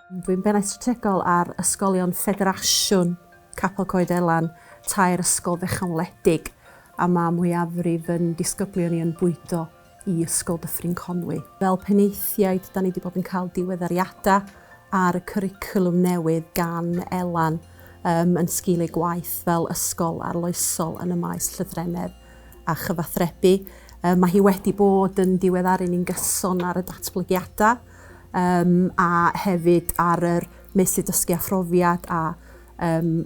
Dwi'n Bennaeth Strategol ar Ysgolion Ffederasiwn Capel Coed Elan, tair ysgol fechan wledig, a mae mwyafrif yn disgyblion i yn bwydo i Ysgol Dyffryn Conwy. Fel penaethiaid, da ni wedi bod yn cael diweddariadau ar y cwricwlwm newydd gan Elan um, yn sgil ei gwaith fel ysgol arloesol yn y maes llythrennedd a chyfathrebu. Um, mae hi wedi bod yn diweddaru ni'n gyson ar y datblygiadau a hefyd ar yr meysydd dysgu a phrofiad a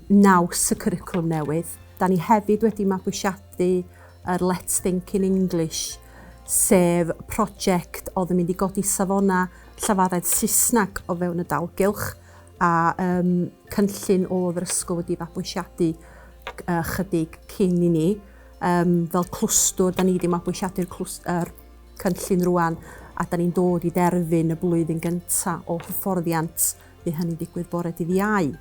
naws y cwricwlwm newydd. Da ni hefyd wedi mabwysiadu yr Let's Think in English, sef prosiect oedd yn mynd i godi safonau llafaredd Saesneg o fewn y dalgylch, a cynllun oedd yr ysgol wedi fabwysiadu chydig cyn i ni. Fel clwstwr, da ni wedi mabwysiadu'r cynllun rŵan a da ni'n dod i derfyn y blwyddyn gynta o hyfforddiant, bydd hynny'n digwydd bore dydd Iau.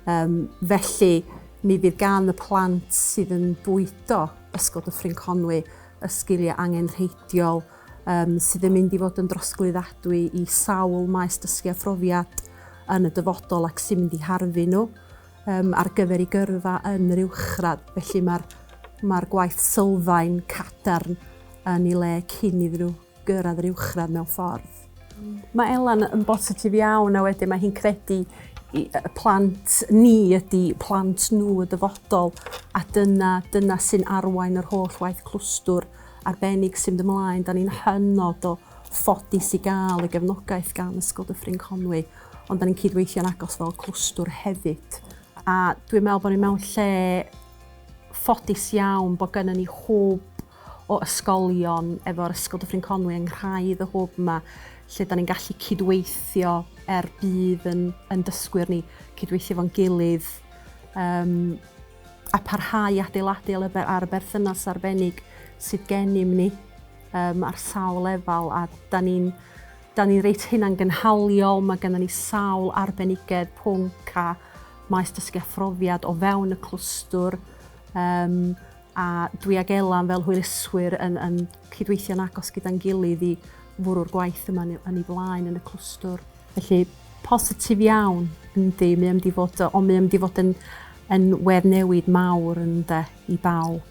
Um, felly, mi fydd gan y plant sydd yn bwydo Ysgol Dyffryn Conwy y sgiliau angenrheidiol um, sydd yn mynd i fod yn drosglwyddadwy i sawl maes dysgu a phrofiad yn y dyfodol ac sy'n mynd i harfu nhw. Yym ar gyfer ei gyrfa yn yr uwchradd, felly mae'r mae'r gwaith sylfaen cadarn yn ei le cyn iddyn nhw gyrraedd yr uwchradd mewn ffordd. Mae Elan yn bositif iawn a wedyn mae hi'n credu i y plant ni ydi plant nhw y dyfodol a dyna dyna sy'n arwain yr holl waith clwstwr arbennig sy'n mynd ymlaen. Da ni'n hynod o ffodus i gael y gefnogaeth gan Ysgol Dyffryn Conwy Ond da ni'n cydweithio'n agos fel clwstwr hefyd. A dwi'n meddwl bod ni mewn lle ffodus iawn bod gennym ni hwb o ysgolion efo'r Ysgol Dyffryn Conwy yng nghraidd y hwb yma lle da ni'n gallu cydweithio er bydd yn, yn dysgwyr ni cydweithio fo'n gilydd um, a parhau adeiladu ar y berthynas arbennig sydd gennym ni um, ar sawl lefel a da ni'n 'Da ni reit hunangynhaliol, mae gennym ni sawl arbenigedd, pwnc a maes dysgu a phrofiad o fewn y clwstwr um, a dwi ag Elan fel hwyluswyr yn, yn cydweithio'n agos gyda'n gilydd i fwrw'r gwaith yma yn ei flaen yn y clwstwr. Felly, positif iawn, yndi, mae am di fod, ond mae am di fod yn, yn wedd newid mawr yn de i bawb.